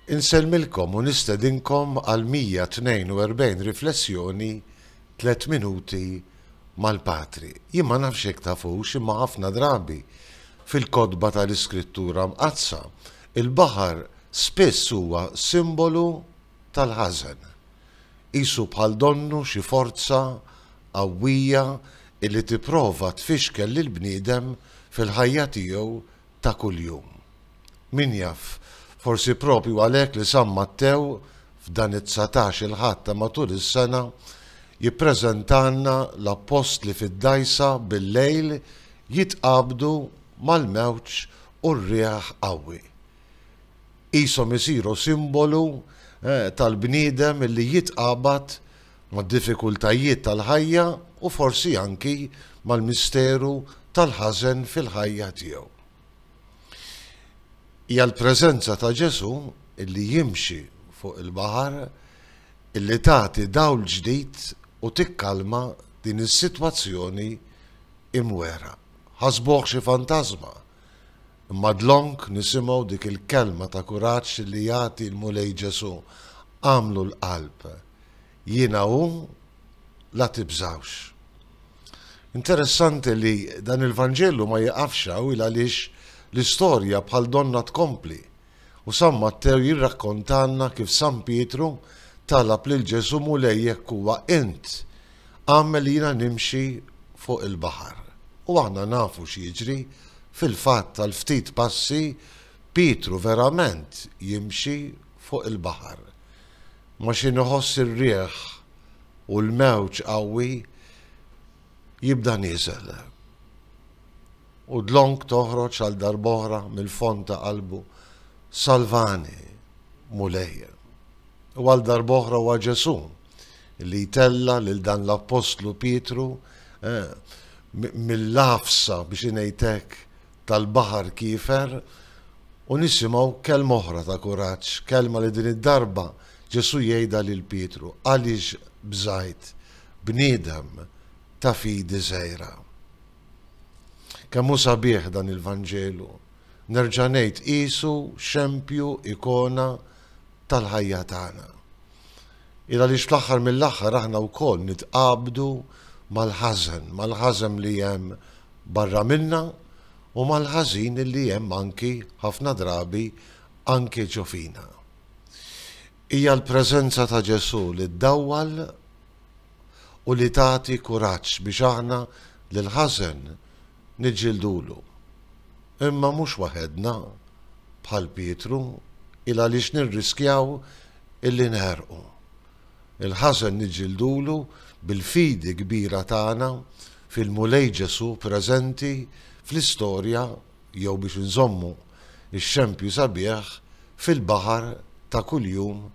Insellmilkom u nistedinkom għal 142 riflessjoni Tliet Minuti mal-Patri. Jien ma nafx jekk tafux imma ħafna drabi fil-kotba tal-Iskrittura Mqaddsa, il-baħar spiss huwa simbolu tal-ħażen. Qisu bħal donnu xi forza qawwija li tipprova tfixkel lill-bniedem fil-ħajja tiegħu ta' kuljum. Min jaf, forsi proprju għalhekk li San Mattew, f'dan it-dsatax il-Ħadd ta' matul is-sena, jippreżentalna l-Appostli fid-dgħajsa bil-lejl jitqabdu mal-mewġ u r-riħ qawwi. Qishom isiru simbolu tal-bniedem li jitqabad mad-diffikultajiet tal-ħajja u forsi anki mal-misteru tal-ħażen fil-ħajja tiegħu. Hija l-preżenza ta' Ġesù li jimxi fuq il-baħar li tagħti dawl ġdid u tikkalma din is-sitwazzjoni imwegħra. Ħasbuh xi fantażma, imma dlonk nisimgħu dik il-kelma ta' kuraġġ li jagħti l-Mulej Ġesù, Agħmlu l-qalb Jiena hu, la tibżgħux. Interessanti li dan il-Vanġelu ma jiqafx hawn il għaliex l-istorja bħal donnha tkompli u San Mattew jirrakkontalna kif San Pietru talab lil Ġesù Mulej jekk huwa int, agħmel li jiena nimxi fuq il-baħar. U aħna nafu x'jiġri, fil-fatt għal ftit passi Pietru verament jimxi fuq il-baħar. Ma xi nħoss ir-riħ u l-mewġ qawwi jibda nieżel. U dlonk toħroġ għal darb'oħra mill-fond ta' qalbu, Salvani, Mulej. U għal darb'oħra huwa Ġesù li jtella' lil dan l-appostlu Pietru mill-għafsa biex ngħid hekk tal-baħar kiefer u nisimgħu kelma oħra ta' kuraġġ, kelma li din id-darba Ġesù jgħidha lil Pietru, Għaliex bżajt bniedem ta' fidi żgħira? Kemm hu sabiħ dan il-Vanġelu! Nerġa' ngħid qisu xempju, ikona, tal-ħajja tagħna. Hi għaliex fl-aħħar mill-aħħar aħna wkoll nitqabdu mal-ħażen, mal-ħażen li hemm barra minna u mal-ħażin li hemm anki ħafna drabi anki ġo fina. Hija l-preżenza ta' Ġesù li ddawwal u li tagħti kuraġġ biex aħna lill-ħażen Niġġildulu. Imma mhux waħedna, bħal Pietru, il għaliex nirriskjaw illi neħrqu. Il-ħażen niġġildulu bil-fidi kbira tagħna fil-Mulej Ġesù preżenti fl-istorja jew biex inżommu x-xempju sabiħ fil-baħar ta' kuljum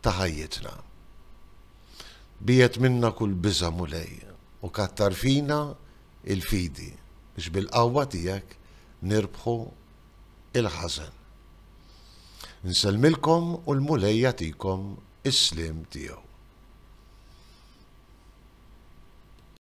ta' ħajjitna. Biegħed minna kull biża', Mulej, u kattar fina il-fidi biex bil-qawwa tiegħek nirbħu l-ħażen. Nsellmilkom u l-Mulej jagħtikom is-sliem tiegħu.